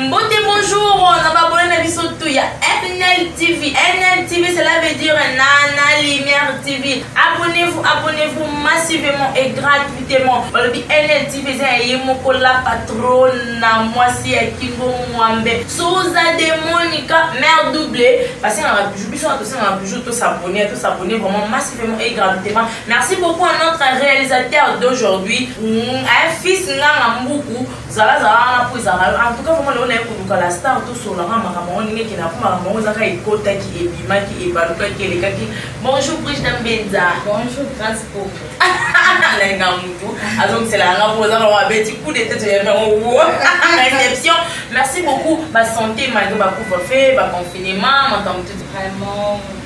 Mbote bonjour, na babone na biso tout ya NL TV. NL TV cela veut dire Nana Lumière TV. Abonnez-vous, abonnez-vous massivement et gratuitement. Balobi NL TV eza ya ye moko la patronne na mwasi ya Kingo Mwambe. Souza de Monica mère double. Parce que na toujours biso na tosanga toujours to s'abonner, to s'abonner vraiment massivement et gratuitement. Merci beaucoup à notre réalisateur d'aujourd'hui, mm, un fils nganga mbuku, zala zala wana po ezala. En tout cas, vraiment lelo naye koluka la star to sola nga makambo ngo ndenge kina kuma makambo ngo zaka ekota ki ebima ki ebaluka ki eleka ki. Bonjour Brigida Mbenza. Bonjour Grace Popo. Nalinga mutu azongisela nga po zaka wa beti coup de tête ya ngo wo. Réception. Merci beaucoup ba santé malgré ba couvre-feu, ba confinement, makambo tout vraiment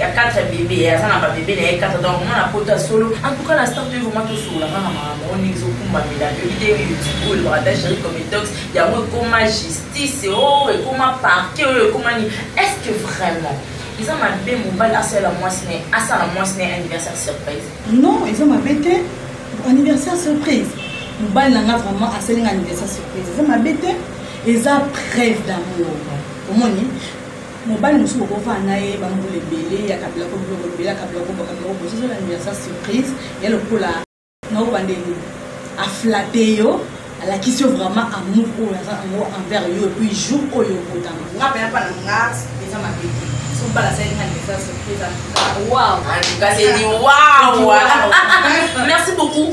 ya 4 bebe aza na babebe na ye 4 donc mwana poto ya solo en tout cas na start oyo vraimen tosokola kaka makambo oyo ndenge ezokumbamela yoki te youtube oyo elobaka ta géri comitox yango ekoma justice o oh, ekoma parquet oyo ekoma nini est ce que vraiment eza mabe mobali asalela mwasi na ye asala mwasi na ye anniversaire surprise non eza mabe te anniversaire surprise mobali na nga vraiment asali nga anniversaire surprise eza mabe te eza preuve d'amour omoni mobali mosusu okofana na ye bambula ebele ya kabila ko biloko ebele ya kabila kobaka biloko boye soki olandela sa surprise ya lokola na obanda elobi aflate yo alakisi yo vraiment amour oyo aza yango envers yo epuis jour oyo okotama nga mpe napana nga eza mabe te sobala salinga ndesa surprise wow kasi ni wow merci beaucoup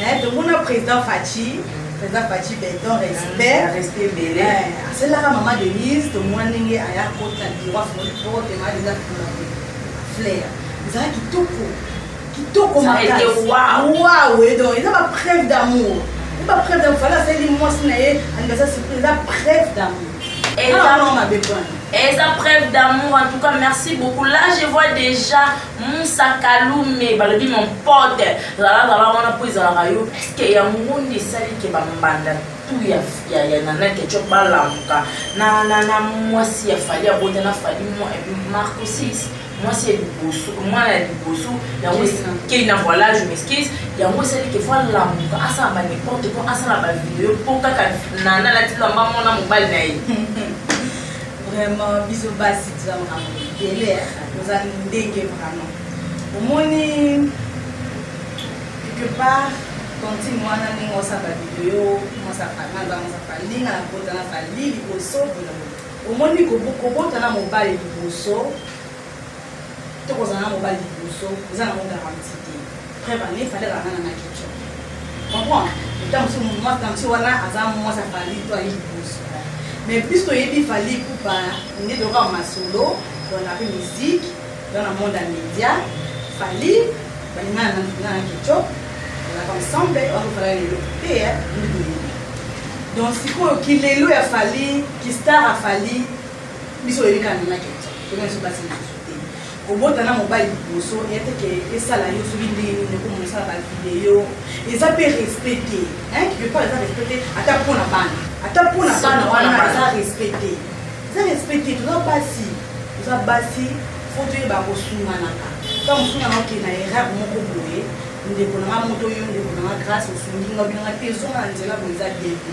Eh, tomona président faci président faci beton respect respect ebele eh, asalelaka mama denise tomona ndenge aya kota biro afungoli porte mama denise afungola flair ezala kitoko kitoko makasiwawe donc eza bapreuve d'amour e bapreuve d'amour fala asaleli mwasi na ye anibasa surprise eza preuve d'amour eza mabe pona eza preuve d'amour en tout cas merci beaucoup là je vois déjà musa kalume balobi mon pote zalazala wana mpo ezalaka yo puiske yango nde esali ke bambanda tu ya nana ketchup balamuka na mwasi ya fali abota na fali mwa epuis marco 6 mwasi ya liboso mwana ya liboso yango kei na voilà je m'excuse yango esali ke fo alamuka asala ba n'importe quoi asala ba video mpo kaka nana alatilamba mwana mobali na ye vraiment biso basi toza makambo ebele toza ndenge vraiment omoni quelque part tontine wana ndenge osamba video mosafalinga na kota na fali liboso omoni kobota na mobali liboso to kozala na mobali liboso eza nango garanti te preuve ane fale kaka nana na kico comprendre ntango mosusu mwasi ntango mosusu wana aza mwasi afali to aye liboso mais puisque oyebi fali kupa nde toyoka masolo tona mpe musique dans le monde ya média fali balinga na kico bazalaka ensemble bakofala lelo te ndii donc sikoyo kilelo ya fali kistar afali biso oyebi kaka nana kico mpona biso basi lisusu te kobota na mobali liboso ya te ke esala yo soki ndenge nini okomona osala bavideo eza mpe respect te quelque part eza respect te ata mpo na bana ata mpo na bana wana eza respect te eza respect te toza basi toza basi fo toyeba kosunganaka ntango mosusu nanga okende na erreur moko boye ndeko nanga moto yo ndeko nanga grâce osungi nga obinanga te ezonga na nzela boye eza bien te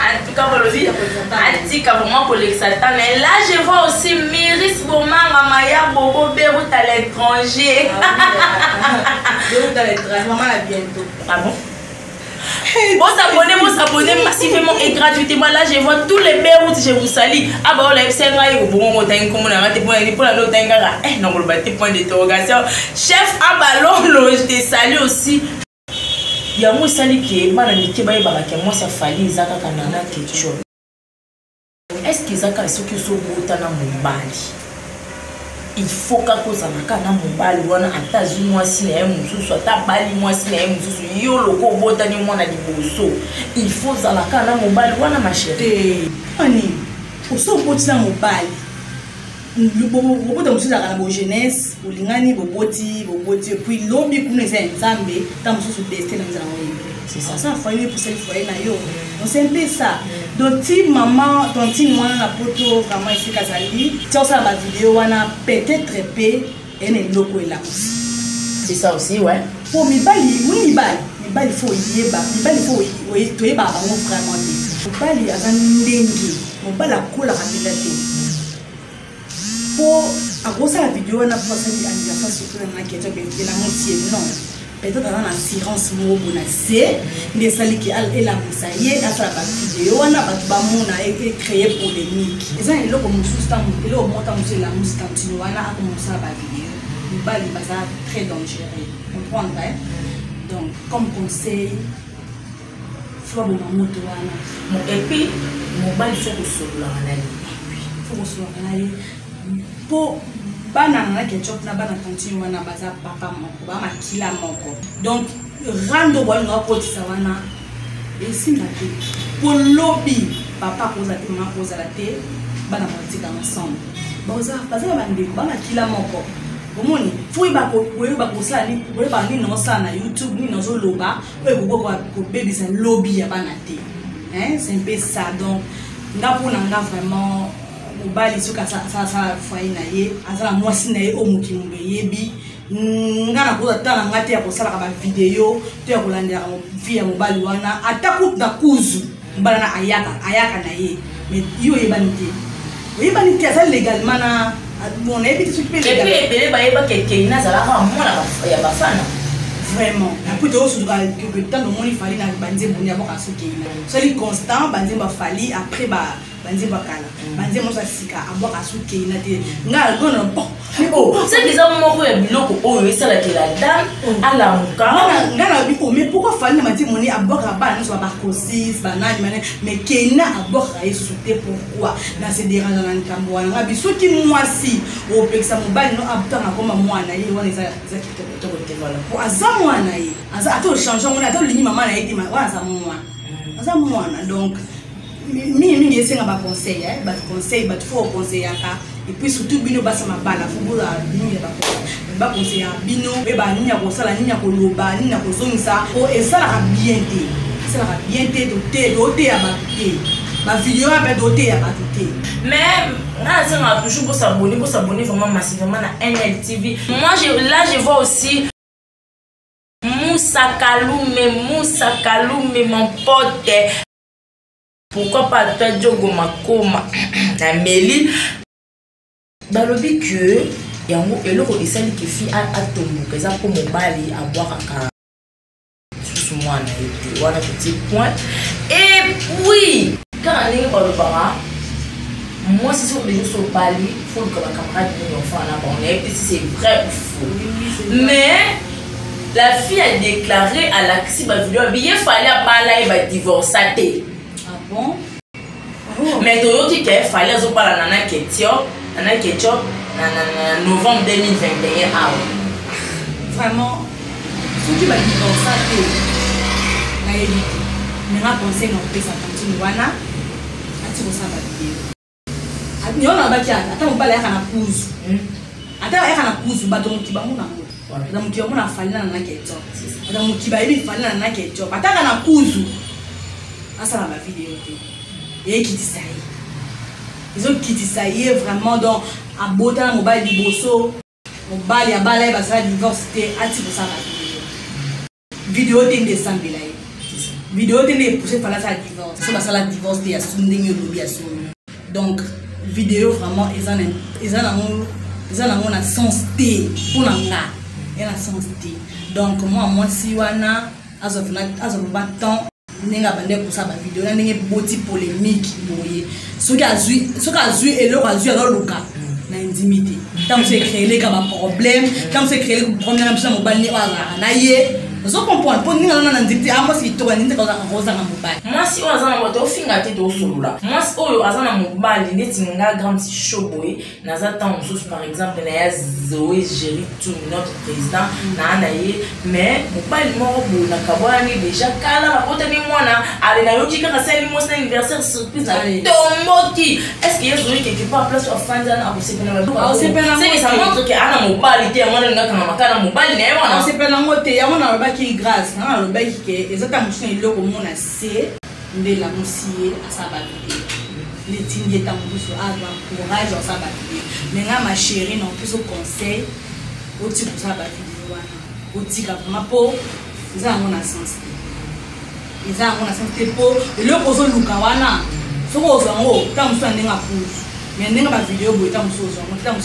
atika bolobi atika vraiment kolekisa ntango mais là je vois aussi miris bomanga maya bobo berut à l'étranger bosabone bosabone massivement et gratuitement là je vois tous les berut je vous sali aba oyo nayebisa ngai obongo otangi nkombo na ngai te mpo nani mpo na nde otangi kaka eh nakoloba te point d'interrogation chef abalolo je te sali aussi yango esali ke bana mike bayebaka ke mwasi ya fali eza kaka nana keco eske eza kaka soki ozobota na mobali ilfaut kaka ozala kaka na mobali wana ata azwi mwasi na ye mosusu ata abali mwasi na ye mosusu yo loko obotani mwana liboso ilfaut ozala kaka na mobali wana masheri ani oso oboti na mobali bobota mosusu ezalaka na bogenese bolingani boboti boboti epuis lobi kuna eza ya nzambe ntango mosusu destin na ezalaka oyembe oza foye epusali foye na yo ose mpe sa donc ti mama tontine mwana na poto vraiment esika azali ti osala bavideo wana peut-être mpe ena eloko elakisi c'est ça aussi ouais po mibali oui mibali mibali fo oyeba mibali fo toyebaka bango vraiment te mobali aza ndenge mobali akolaka mpenza te po akosala video wana po asali anniversaire surtout na naki ya jabe elamosi ye non peut-être aza na assurance moko bo na se nde esaliki elamusa ye asala bavideo wana bato bamona ecreye polémique eza na eloko mosusu eloko moko ta mosusu elamusi tantino wana akomosala bavideo mibali baza très dangereux comprendre donc comme conseil floboma moto wana epuis mobali fo kosololaka na ye fo kosololaka na ye mpo bana na na ketchup na bana tantine wana baza papa moko ba makila moko donc rando bwani nga kotisa wana esimba te mpo lobi papa akozala te mama akozala te bana batika ensemble baza na bandeko ba makila moko omoni fo oyeba kosala nini oyeba nini naosala na youtube nini nazoloba oyo ekokoka kobebisa lobi ya bana te c'est mpe ça donc nga mpo na nga vraiment mobali soki asala foye na ye aza na mwasi na ye oyo mokili eyebi mm, nga nakoza ta na nga te ya kosalaka bavideo to ya kolandelaka vi ya mobali wana ata kutu na kuzu mobali wana ayaka ayaka na ye mais yo oyebani te oyebani te aza legalement na bon nayebi te soki mpe ebele bayebaka ekei nazalaka mwana ya bafana vraiment apres toyosuka ntango omoni fali na banzembo nde yaboka soki sali constant banzembo afali après ba banze bakala mm. banze mosa sika abwaka asukei na te ngai algona oh, oh, oh. seke eza moko ya biloko oyo esalakela dame alamuka ngai nabi o mais pourkoi fali na mati moni abwakaka bana nyonso babacosis banani mane mais kena abwakaka yesusu te pourkoi na se deranja na likambo wana ngai bi soki mwasi opekisa mobali no abutanga akoma mwana ye wana eza kitoko te wana po aza mwana ye ata ochange yango ata olingi mama na ye te wana aza mwana mm. aza mwana donc mingi mingi esenga baconseil eh? bato conseil bato fo oconseillaka epuis surtout bino basa mabala fo boza mingi ya baconseil baconseillaka bino oyeba nini ya kosala nini ya koloba nini ya kozongisa po esalaka bien te esalaka bien te tote toteya bato te bavideo ya mpe toteya bato te mais nga nasengaka toujours bosabone bosabone vraiment massivement na nltv moi je, là je vois aussi Moussa Kaloumé, Moussa Kaloumé, mon pote. pourquoi pas ata jogo makoma na meli balobi que yango eloko esali kefi atomboka eza mpo mobali abwakaka lisusu mwana ye te wana totie point epuis kaka ndenge balobaka mwasi soki olingi so obali foluka bacamarade nini ofana na bango nayebi te si c'est vrai ou faux mais la fille a déclaré alakisi ba video bi ye fale abala ye ba divorça te ah bon? oh. mais toyoki ke fale azobala na na ketio na na ketio na, na, na novembre 2021 awa vraiment soki ba divorça te nayebi te mais na conseil na kopesa tantine wana ati kosala video yona abaki ata ata mobali ayaka na kuzu hmm? ata ayaka na kuzu bato mokiba mona ngo na moto yango na falina na nake etop na mokiba ayebi falina na nake etop ataka na kuzu asala bavideo te eyekitisa ye ezokitisa ye vraiment donc abota na mobali liboso mobali abala ye basala divorce te ati kosala video te nde esambela ye video te nde epousse fala asala divorce so basala divorce te ya su ndenge olobi ya solo donc video vraiment eza na eza na ngo eza na ngo na sens te mpo na nga eza na sens te donc mwa mwasi wana azwa azwa mba temps ndenge abandaki kosala bavideo na ndenge boti polémique boye soki azwi eloko azwi azoluka na endimi te ntango so ecreeleka baproblème ntango so ecreeleka problème na biso na mobali oyo azalaka na ye ozo comprendre mpo ndenge azana na ndimi te amwasi kitoko ndimi te kozanga mobali mwasi oyo aza na moto ofinga te tosolola mwasi oyo aza na mobali neti nga grande show boye naza ntango mosusu par exemple na ya zoe géri tumi notre président naa na ye mais mobali moko boye nakabwanani déjà kala nakotani mwana ale nayoki kaka sali mwasi na anniversaire surprise natomboki est ce que ye zoe quelque part place afandi ana akosepela badukaoseke ça montre ke ana mobali te yango wana lingakanga makana mobali na ye wana osepela yango te yango nalobaki grâce nanga nalobaki ke eza ntango mosusu na eloko mona se nde lamusi ye asala bato te netindi ye ntango mosusu azwa courage asala bato te me nga ma chérie na opeso conseil otika kosala bavideo wana otika vrima mpo eza yango na sens te eza yango na sens te mpo eloko ozoluka wana soki ozwa yango ntango mosusu ya ndenge apusu me ndenge bavideo boye ntango mosusu ozwa yango ntango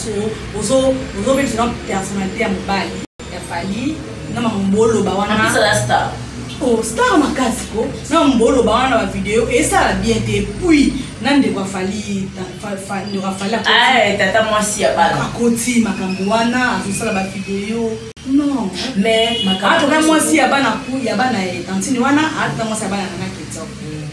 mosusu ozobebisa na personnalité ya mobali ya fali na mamboloba wana star oh, star makasi ko na mamboloba wana na bavideo esala bien te puis na ndeko afali ndeko afali ah, tata mwasi ya bana akoti makambo wana azosala bavideo non mais makambo ah, mwasi ya bana ya bana ye tantine wana ata ah, mwasi ya bana nana ketsa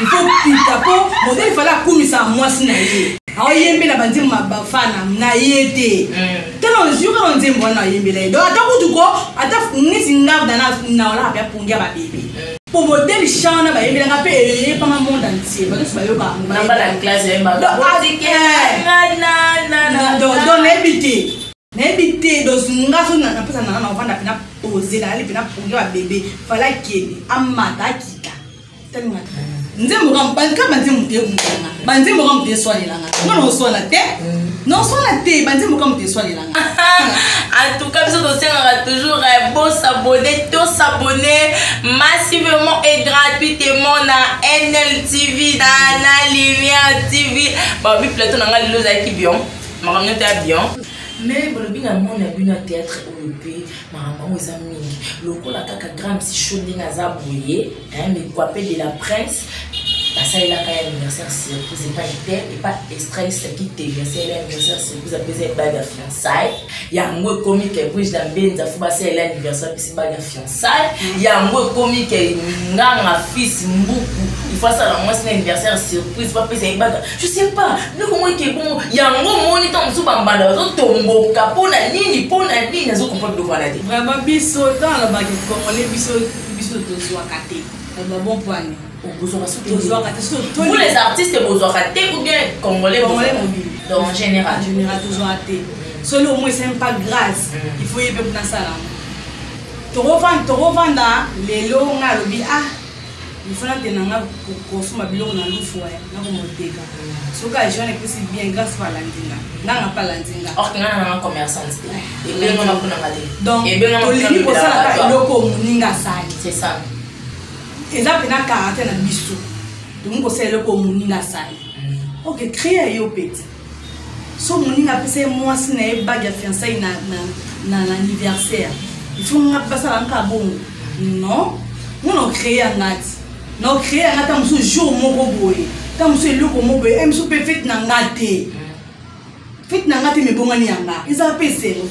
il faut kuta mpo modele fale akumisaka mwasi na ye aoyembela banzembo mabafana na ye te tala yoka na nzembo wana ayembela ye donc ata kutu ko ata neti ngavda na olaka mpe apongia babebe mpo modele chant wana bayembelaka mpe eyebama monde entier bato nyonso bayokaka nayebi te nayebi te dos nga so napesa nanga na ovanda mpena pose nayali mpena progre ya bebe fala akende amata akita talingaka nzembo ka banka banzembo te mutanga banzembo ka moto eswanelanga nga noswana te noswana te banzembo ka moto eswanelanga antuka biso tosengaka toujours eh, bosabone tosabone massivement et gratuitement na nltv na na lumière tv babi plateau na nga lelo ozalaki bion makambo nyonso ya bion mais bolobi na moni ya bino ya théâtre oyo mpe makambo yango eza mingi lokola kaka grand msi cho ndenge aza boye mikwape de la presse basalelaka ya anniversaire surprise epai te epa estresse kitenge asalela anniversaire surprise apesa ebali ya fiançaille yango ekomi kepuise na mbenza fo basalela anniversaire apesi bali ya fiançaille sale yango ekomi ke nganga fils mbuku ifo asala mwasi na anniversaire surprise bapesa ye baka je sais pas biloko moko eke bongo yango omoni ntango mosusu bambanda bazotomboka mpo na nini mpo na nini azokompa biloko wana te vraiment biso ntango alobaki kongole biso biso tozwaka te alobabon pwani bozwaka soki tozwaka te soki toli vous les artistes bozwaka te ou bien congolais congolais mobile donc en général en général tozwaka te solo au moins c'est pas grâce mm. il faut yebe kuna sala tokovanda tokovanda lelo nga alobi ah ifo natenda nga kosomba biloko na lufu ya nakomoteka mm. soki ajean epesi bien grâce pa landinga nanga pa landinga donc tolingi kosala eloko moninga asali eza mpena karate na biso tokomi kosala eloko moninga asali oke cria ye opeti so moninga apesa ye mwasi na ye bage ya fiansai na anniversaire ifo nga basala nka bongo non nga na ocree ya nga ti na ocree ya nga ta mosusu jour moko boye ta mosusu eloko moko boye eh, mosusu mpe fete na nga te fete na nga te mebongani ya nga ezala mpe esengo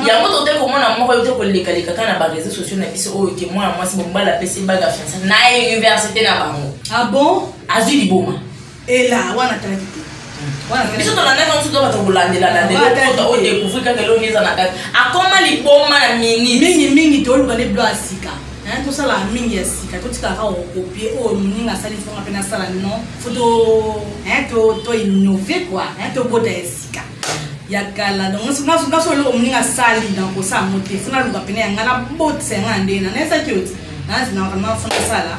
yango tote komona moko yo te kolekaleka kaka na bareseau sociaux na biso oyo ke mwana mwasi bombala apesi baga fiansa na université na bango ah bon azwi liboma ela wana talaki te biso tolandaka mosusu to bato kolandelalandela odecouvrir kaka elongi eza na kati akoma liboma na minute mingimingi toluka nde blo ya sika naye tosalaka mingi ya sika totikaka okopie oyo moninga asali fonga mpe nasala non fo toinnove kua tobota ya sika ya kala donnaso eloko moninga asali na kosala yango te fo naluka pene ya ngai nabotisa yanga na ndenge na naesaki oti nazina vraimen fo nasala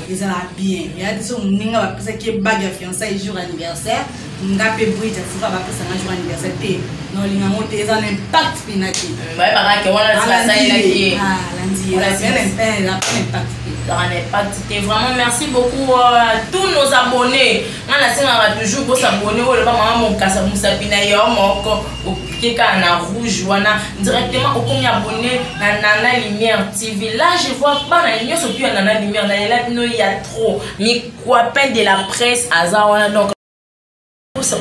ezala bien ya biso moninga bapesaki ye bage ya fiançai jour anniversaire nga mpe brit afuka bapesanga jour anniversaire te naolinga yango te eza na impact mpena te bayebakake wanaasalaki impact te vraiment merci beaucoup euh, tous nos abonnés nga nasengaka toujours bosabonne oyo loba mama mokasa mosapi na yo moko oklike kaka na rouge wana directement okomi abonne na nana lumière tv là je vois bana nyonso tu ya nana lumière nalela bino ya trop mikwapin de la presse aza wana donc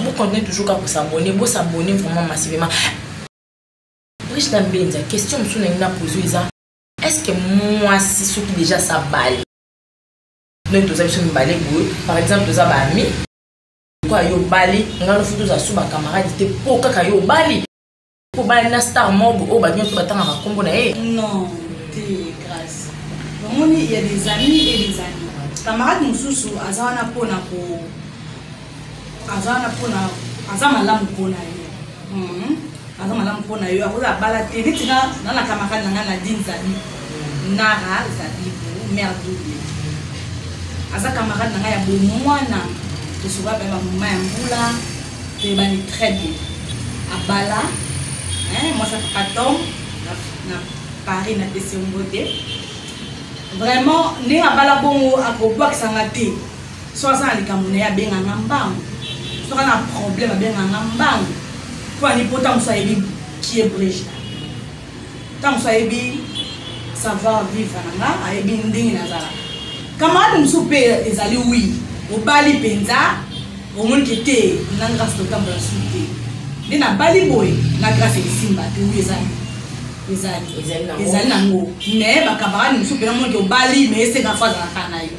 bocontinue toujours kaka kosabonne bosabonne vraiment massivement briche na mbenza question mosusu nangi na pozo eza est ce que mwasi soki déjà sabali donc toza biso mibale boye par exemple toza baami pourquoi yo obali nga no futu ozasu ba camarade te po kaka yo obali po obali na star mob oyo bato nyonso batangaka nkombo na ye non te grâce omoni ya des amis et des amis camarade mosusu aza wana mpona ko aza wana mpona aza malamu mpona ye Mhm. aza malamu mpo na yo akoza abala te neti nga na na camarade na ngai nadine zabi nara zabibu mare double aza camarade na ngai ya bomwana tosoba mpe bamoma ya mbula toyebani très bien abala mwasi ya papa tom na paris na pesi yango te vraiment ndenge abala bongo akobwakisanga te so aza na likambo na ye abenganga mbangu soki aza na problème abenganga mbangu mpo ani mpo ntango mosusu ayebi kie brigida ntango mosusu ayebi savoir vivre na nga ayebi ndenge nazalaka camarade mosusu mpe ezali wi obali mpenza omoni ke te na grâce totambola su te nde nabali boye na grâce esimba te wi ezali ezali ezali nango mais bakamarade mosusu mpenza moni ke obali mais esengaka fo azalaka na yo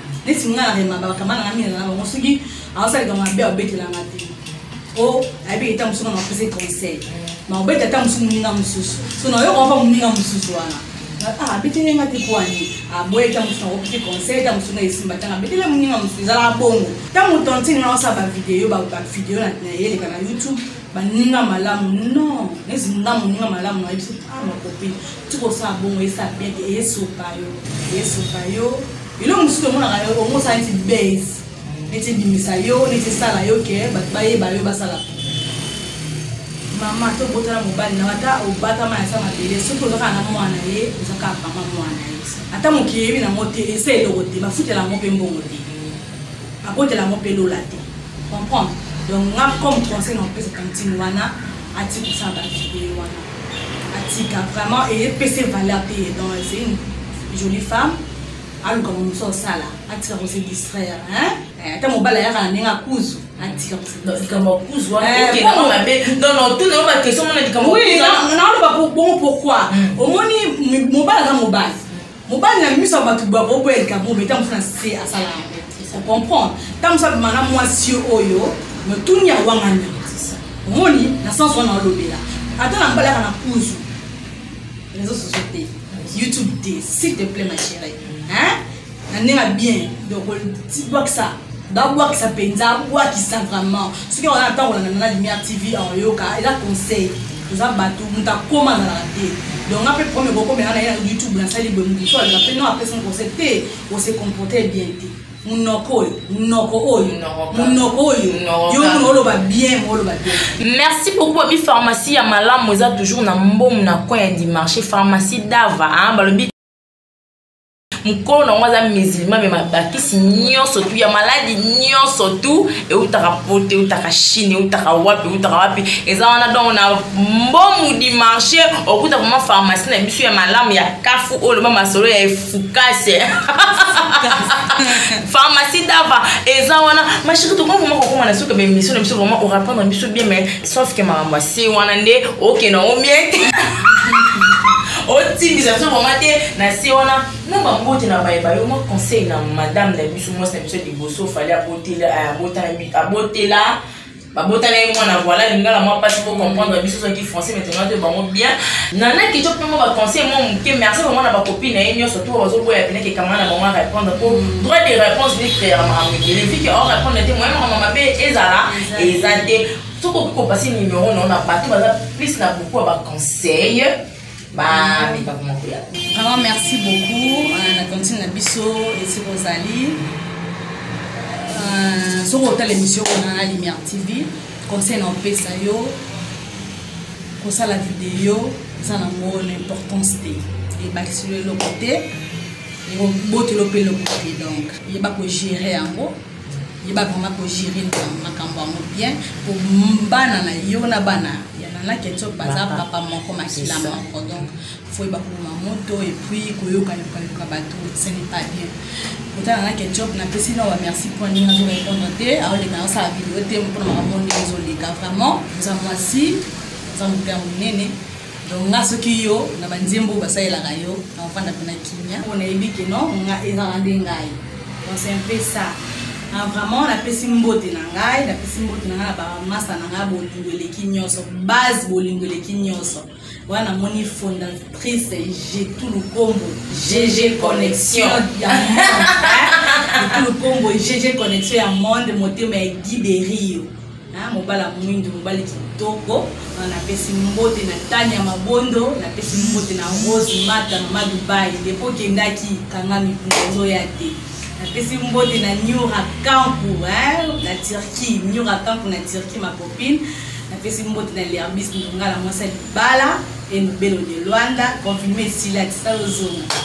neti nga na remaba bakamba nanga mingi na bango soki aosaleka mabe aobetelanga te po ayebi eta mosusu nga napese conseil ma obeta ata mosusu moninga mosusu so nayoka opa moninga mosusu wana ah, abetele nga te po ani aboye ta mosusu nakopike conseil ta mosusu na esimba tanga abetele moninga mosusu ezalaka bongo ntango tantine wana osala bavideo bavideo nayeleka na youtube baninga malamu non nezi nga moninga malamu nayebisi ah makopi tikosala bongo esa bien te esopa yo esopa yo elo mosusu tomonaka yo ongo osala neti base neti ebimisa yo neti esala yo ke bato bayeba yo basala mama to botala mobali na ata obatama ya sa mabele soki ozaka na mwana ye ozaka mama mwana ye ata moki yebi nango te esa eloko te bafutela yango mpe mbongo te bakotela yango mpe lola te comprendre donc nga comme conseil na opesa tantine wana atikosala bavideo wana atika vraiment epese valeur te donc c'est une jolie femme aluka momosu osala atika kose distraire eh, ata mobali ayaka na ndenge akuzu likambo akuzu wanaotuna yo bakestion mona likambo naoloba bongo pourkoi omoni mobali aza mobali mobali na miso ya bato bakoboya likambo obe ntango mosu na se asala yango ocomprendre ntango mosu abima na mwasi oyo motuni ya wangana omoni na sens wana olobela ata na mbalaka na kuzu réseau sociaux te youtube te s'il te plaît ma chérie hein na ndenge ya bien donc bwakisa babwakisa mpenza abwakisa vraiment soki wana ntango olanda na lumière tv oyoka eza conseil toza bato moto akoma azalaka te donc nga mpe problème ekokomela na ye na youtube nasali boye moto mosusu alela mpe no apesa ngo conseil te ose comporte bien te munoko oyo munoko oyo munoko oyo yo muna oloba bien oloba bien merci beaucoup abi pharmacie ya malamu eza toujours na mbomu na coin ya dimarché pharmacie dava balobi mokolo na yango aza musulma me mabakisi nyonso tu ya maladi nyonso tu eutaka pote eutaka chine eutaka wapi eutaka wapi eza wana donc na mbomu du marché okuta vraimen pharmacie na biso ya malamu ya kafu oyo loba masolo ya efukase pharmacie dava eza wana mashiki tokomi vraimen kokoma na suka baemission na biso vraimen orapondre biso bien mais sauf que makambo ya se wana nde okenda o miete otimbisa biso vraimen te na se wana na bambote na baye bayo mwa conseil na madame na biso mwasi na biso liboso fali abotela babotana ye mwana voila lingala mwa mpasi po comprendre biso soki français mais tongana toyo bango bien nana kico mpe mwa baconseil mwa moke merci bango na bakopi na ye nyonso to bazoboya pene ke kanga na bango a répondre po droit de réponse ni créer makambo ebele vike o répondre te moye makambo mabe ezala eza te soki okoki kopase numero nao na bato baza plus na beaucoup ya baconseil bameka koma koya vraiment merci beaucoup euh, na tantine na biso esika ozali euh, soki otala émission wana na lumière tv conseil na opesa yo kosala video eza na ngo l'importance te ebakisi yo eloko te ebotelo mpe eloko te donc yeba kogere yango yeba vraiment ko gérer makambo yango bien po bana na yo na bana ya nana kenso baza papa moko makila moko donc faut yeba koboma moto et puis koyoka yokayoka bato ce n'est pas bien kotala nana ketchup napesi na bamerci mpo ndenge azo répondre te aoleka asala video te mpona makambo ndenge ezoleka vraiment oza mwasi oza moto ya monene donc nga soki yo na banzembo oyo basalelaka yo na ofanda mpe na kimia mpo nayebi ke no nga ezala nde ngai donc c'est un peu ça ah, vraiment napesi mbote na ngai napesi mbote na ngai na bamasa na ngai bolingo eleki nyonso base bolingo eleki nyonso wana namoni fondatrice jetu lukombo gg connexion ya monde lukombo gg connexion ya monde motema ya guiderio Ah, mobala mwindu mobali kitoko ah, napesi mbote na tani ya mabondo napesi mbote na rose mata mama dubai depo okendaki kanga mipunga ozoya te napesi mbote na nyura kampu na turquie nyura kampu na turquie ma copine napesi mbote na lerbis ndonga na mwasi ya libala enobelo de lwanda confirme esila tisala ozonga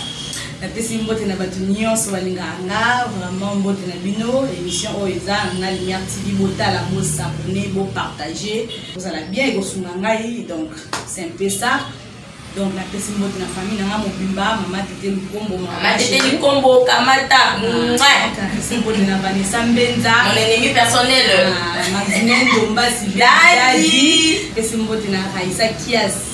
napesi mbote na bato nyonso balingaka nga vraiment mbote na bino émission oyo eza na lumière tv botala bosabone bopartage ozala bien ekosunga ngai donc c'est un peu ça donc napesi mbote na famille na nga mobimba mama tete likombo mama tete likombo kamata napesi ah, mbote na vanessa mbenza mon ennemi personnel ah, maxine ndomba sibedadi pesi mbote na raisa kiasi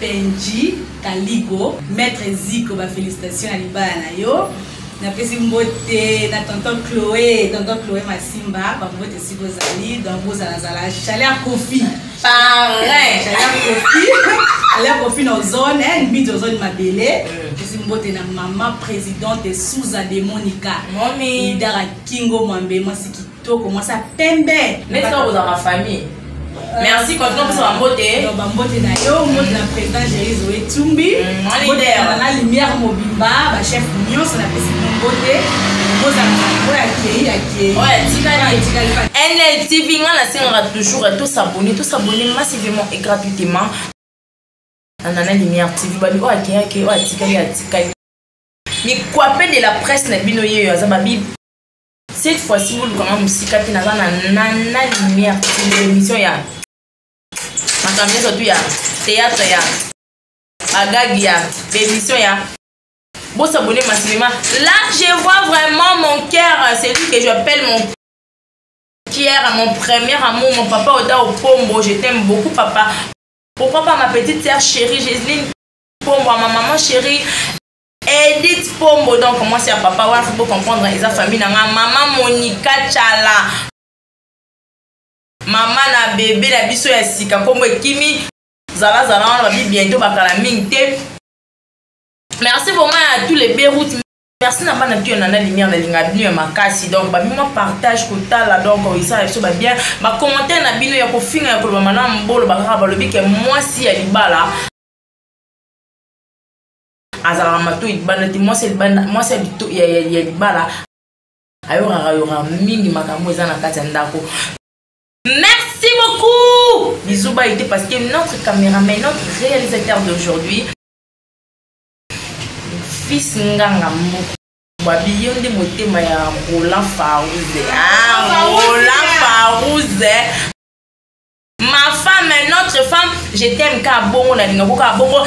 Benji Kaligo, Maître Zico, ba félicitations à libala na yo. napesi mbote na tonton chloé tonton chloé masimba bambote esika ozali donc bozalazala chaleur kofi pareil chaleur kofi chaleur kofi na ozone eh, mbidi ozone mabele euh. pesi mbote na mama présidente suza de monica idara kingo mwambe mwasi toko mwasa pembe neti kaka kozala ma famille euh, merci continue opesa bambote bambote na yo mbote na président jérise oetumbi mm, na lumière mobimba bachef nyonso napesi mbote nltv nga nasengaka toujours tosabone tosabone massivement et gratuitement anana lumière tv babi oyo akeyake oyo atikali atikali mikwape de la presse na bino yeyo aza babi cette fois ci boluka nga mosika te naza na nana lumière émission ya makambo nyonso tu ya théâtre ya bagagi ya émission ya bosabone masinema là je vois vraiment mon cœur celui que j'appelle mon pierre mon premier amour mon papa oda opombo je t'aime beaucoup papa pourquoi pas ma petite sœur chérie Jéseline pombo ma maman chérie edit pombo donc mwasi ya papa wana fo bocomprendre eza famille na nga mama monika cala mama na bebe na biso ya sika nkombo ekimi zalazala wana babi bientôt bakala mingi te merci vraiment ya tous les beroute merci na bana tuya nana lumière nalinga bino ya makasi donc babima partage kotala donc eza na biso babien bacommentaire na bino ya kofinga ya koloba mana mbolo bakaka balobi ke mwasi ya libala azalaka mato libanda te mwasi ya libanda mwasi ya libala ayokaka yoka mingi makambo eza na kati ya ndako merci beaucoup bisous baye te parce que notre caméraman notre réalisateur d'aujourd'hui fils nganga moko babi yo nde motema ya roland farouze ah, roland farouze ma femme notre femme je t'aime ka bongo nalinga koka bongo